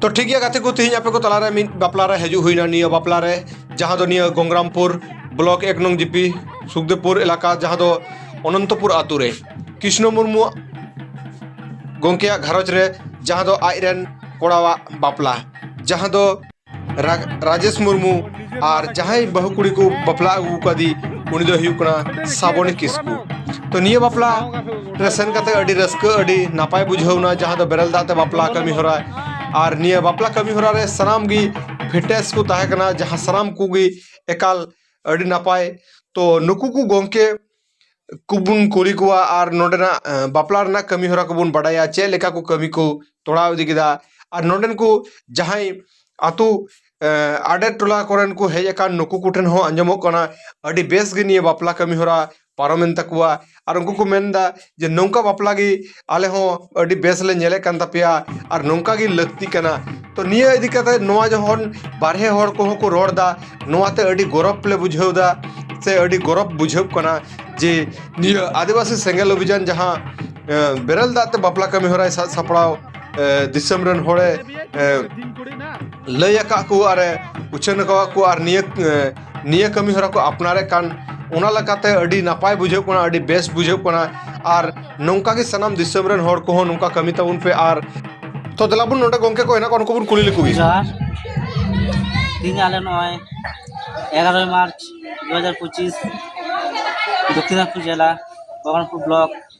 ᱛᱚ ᱴᱷᱤᱠ ᱜᱮᱭᱟ ᱜᱟᱛᱮ ᱠᱚ ᱛᱮᱦᱮᱧ ᱟᱯᱮ ᱠᱚ ᱛᱟᱞᱟᱨᱮ ᱢᱤᱫ ᱵᱟᱯᱞᱟ ᱨᱮ ᱦᱤᱡᱩᱜ ᱦᱩᱭᱱᱟ ᱱᱤᱭᱟᱹ ᱵᱟᱯᱞᱟ ᱨᱮ ᱡᱟᱦᱟᱸ ᱫᱚ ᱱᱤᱭᱟᱹ ᱜᱚᱝᱜᱨᱟᱢᱯᱩᱨ ᱵᱞᱚᱠ ᱮᱠ ᱱᱚᱝ ᱡᱤᱯᱤ ᱥᱩᱠᱫᱮᱵᱽᱯᱩᱨ ᱮᱞᱟᱠᱟ ᱡᱟᱦᱟᱸ ᱫᱚ ᱚᱱᱚᱱᱛᱚᱯᱩᱨ ᱟᱛᱳ ᱨᱮ ᱠᱨᱤᱥᱱᱚ ᱢᱩᱨᱢᱩ ᱜᱚᱝᱠᱮᱭᱟᱜ ᱜᱷᱟᱨᱚᱸᱡᱽ ᱨᱮ ᱡᱟᱦᱟᱸ ᱫᱚ ᱟᱡ ᱨᱮᱱ ᱠᱚᱲᱟᱣᱟᱜ ᱵᱟᱯᱞᱟ ᱡᱟᱦᱟᱸ ᱫᱚ ᱨᱟᱡᱮᱥ ᱢᱩᱨᱢᱩ ᱟᱨ ᱡᱟᱦᱟᱸᱭ ᱵᱟᱹᱦᱩ ᱠᱩᱲᱤ ᱠᱚ ᱵᱟᱯᱞᱟ ᱟᱹᱜᱩ ᱠᱟᱫᱮ ᱩᱱᱤ ᱫᱚ ᱦᱩᱭᱩᱜ ᱠᱟᱱᱟ ᱥᱟᱵᱚᱱᱤ ᱠᱤᱥᱠᱩ ᱛᱚ ᱱᱤᱭᱟᱹ ᱵᱟᱯᱞᱟ ᱨᱮ ᱥᱮᱱ ᱠᱟᱛᱮ ᱟᱹᱰᱤ ᱨᱟᱹᱥᱠᱟᱹ ᱟᱹᱰᱤ ᱱᱟᱯᱟᱭ ᱵᱩᱡᱷᱟᱹᱣᱱᱟ ᱡᱟᱦᱟᱸ ᱫᱚ ᱵᱮᱨᱮᱞ ᱫᱟᱜ ᱛᱮ ᱵᱟᱯᱞᱟ ᱠᱟᱹᱢᱤ ᱦᱚᱨᱟ ᱟᱨ ᱱᱤᱭᱟᱹ ᱵᱟᱯᱞᱟ ᱠᱟᱹᱢᱤ ᱦᱚᱨᱟ ᱨᱮ ᱥᱟᱱᱟᱢ ᱜᱮ ᱯᱷᱤᱴᱱᱮᱥ ᱠᱚ ᱛᱟᱦᱮᱸ ᱠᱟᱱᱟ ᱡᱟᱦᱟᱸ ᱥᱟᱱᱟᱢ ᱠᱚᱜᱮ ᱮᱠᱟᱞ ᱟᱹᱰᱤ ᱱᱟᱯᱟᱭ ᱛᱚ ᱱᱩᱠᱩ ᱠᱚ ᱜᱚᱝᱠᱮ ᱠᱚᱵᱚᱱ ᱠᱩᱞᱤ ᱠᱚᱣᱟ ᱟᱨ ᱱᱚᱰᱮᱱᱟᱜ ᱵᱟᱯᱞᱟ ᱨᱮᱱᱟᱜ ᱠᱟᱹᱢᱤ ᱦᱚᱨᱟ ᱠᱚᱵᱚᱱ ᱵᱟᱰᱟᱭᱟ ᱪᱮᱫ ᱞᱮᱠᱟ ᱠᱚ ᱠᱟᱹᱢᱤ ᱠᱚ ᱛᱚᱲᱟᱣ ᱤᱫᱤ ᱠᱮᱫᱟ ᱟᱨ ᱱᱚᱰᱮᱱ ᱠᱚ ᱡᱟᱦᱟᱸᱭ ᱟᱹᱛᱩ ᱟᱰᱮ ᱴᱚᱞᱟ ᱠᱚᱨᱮᱱ ᱠᱚ ᱦᱮᱡ ᱟᱠᱟᱱ ᱱᱩᱠᱩ ᱠᱚᱴᱷᱮᱱ ᱦᱚᱸ ᱟᱸᱡᱚᱢᱚᱜ ᱠᱟᱱᱟ ᱟᱹᱰᱤ ᱵᱮᱥ ᱜᱮ ᱱᱤᱭᱟᱹ ᱵᱟᱯᱞᱟ ᱠᱟᱹᱢᱤ ᱦᱚᱨᱟ ᱯᱟᱨᱚᱢᱮᱱ ᱛᱟᱠᱚᱣᱟ ᱟᱨ ᱩᱱᱠᱩ ᱠᱚ ᱢᱮᱱᱫᱟ ᱡᱮ ᱱᱚᱝᱠᱟ ᱵᱟᱯᱞᱟ ᱜᱮ ᱟᱞᱮ ᱦᱚᱸ ᱟᱹᱰᱤ ᱵᱮᱥ ᱞᱮ ᱧᱮᱞᱮᱫ ᱠᱟᱱ ᱛᱟᱯᱮᱭᱟ ᱟᱨ ᱱᱚᱝᱠᱟ ᱜᱮ ᱞᱟᱹᱠᱛᱤ ᱠᱟᱱᱟ ᱛᱚ ᱱᱤᱭᱟᱹ ᱤᱫᱤ ᱠᱟᱛᱮ ᱱᱚᱣᱟ ᱡᱚᱠᱷᱚᱱ ᱵᱟᱨᱦᱮ ᱦᱚᱲ ᱠᱚᱦᱚᱸ ᱠᱚ ᱨᱚᱲ ᱮᱫᱟ ᱱᱚᱣᱟᱛᱮ ᱟᱹᱰᱤ ᱜᱚᱨᱚᱵᱽ ᱞᱮ ᱵᱩᱡᱷᱟᱹᱣ ᱮᱫᱟ ᱥᱮ ᱟᱹᱰᱤ ᱜᱚᱨᱚᱵᱽ ᱵᱩᱡᱷᱟᱹᱜ ᱠᱟᱱᱟ ᱡᱮ ᱱᱤᱭᱟᱹ ᱟᱹᱫᱤᱵᱟᱹᱥᱤ ᱥᱮᱸᱜᱮᱞ ᱚᱵᱷᱤᱡᱟᱱ ᱡᱟᱦᱟᱸ ᱵᱮᱨᱮᱞ ᱫᱟᱜ ᱛᱮ ᱵᱟᱯᱞᱟ ᱠᱟᱹᱢᱤ ᱦᱚᱨᱟᱭ ᱥᱟᱡᱽ ᱥᱟᱯᱲᱟᱣ ᱫᱤᱥᱚᱢ ᱨᱮᱱ ᱦᱚᱲᱮ ᱞᱟᱹᱭ ᱟᱠᱟᱫ ᱠᱚ ᱟᱨᱮ ᱩᱪᱷᱟᱹᱱ ᱟᱠᱟᱫ ᱠᱚ ᱟᱨ ᱱᱤᱭᱟᱹ ᱱᱤᱭᱟᱹ ᱠᱟᱹᱢᱤ ᱦᱚᱨᱟ ᱠᱚ ᱟᱯᱱᱟᱨᱮᱫ ᱠᱟᱱ ᱚᱱᱟ ᱞᱮᱠᱟᱛᱮ ᱟᱹᱰᱤ ᱱᱟᱯᱟᱭ ᱵᱩᱡᱷᱟᱹᱜ ᱠᱟᱱᱟ ᱟᱹᱰᱤ ᱵᱮᱥ ᱵᱩᱡᱷᱟᱹᱜ ᱠᱟᱱᱟ ᱟᱨ ᱱᱚᱝᱠᱟ ᱜᱮ ᱥᱟᱱᱟᱢ ᱫᱤᱥᱚᱢ ᱨᱮᱱ ᱦᱚᱲ ᱠᱚᱦᱚᱸ ᱱᱚᱝᱠᱟ ᱠᱟᱹᱢᱤ ᱛᱟᱵᱚᱱ ᱯᱮ ᱟᱨ ᱛᱚ ᱫᱮᱞᱟ ᱵᱚᱱ ᱱᱚᱰᱮ ᱜᱚᱝᱠᱮ ᱠᱚ ᱦᱮᱱᱟᱜ ᱠᱚᱣᱟ ᱩᱱᱠᱩ ᱵᱚᱱ ᱠᱩᱞᱤ ᱞᱮᱠᱚ ᱜᱮ ᱡᱚᱦᱟᱨ ᱛᱮᱦᱮᱧ ᱟᱞᱮ ᱱᱚᱜᱼᱚᱭ ᱮᱜᱟᱨᱳᱭ ᱢᱟᱨᱪ ᱫᱩ ᱦᱟᱡᱟᱨ ᱯᱚᱸᱪᱤᱥ ᱫᱚᱠᱠᱷᱤᱱᱟᱡᱽᱯᱩᱨ ᱡᱮᱞᱟ ᱵᱚᱦᱚᱨᱚᱢᱯᱩᱨ ᱵᱞᱚᱠ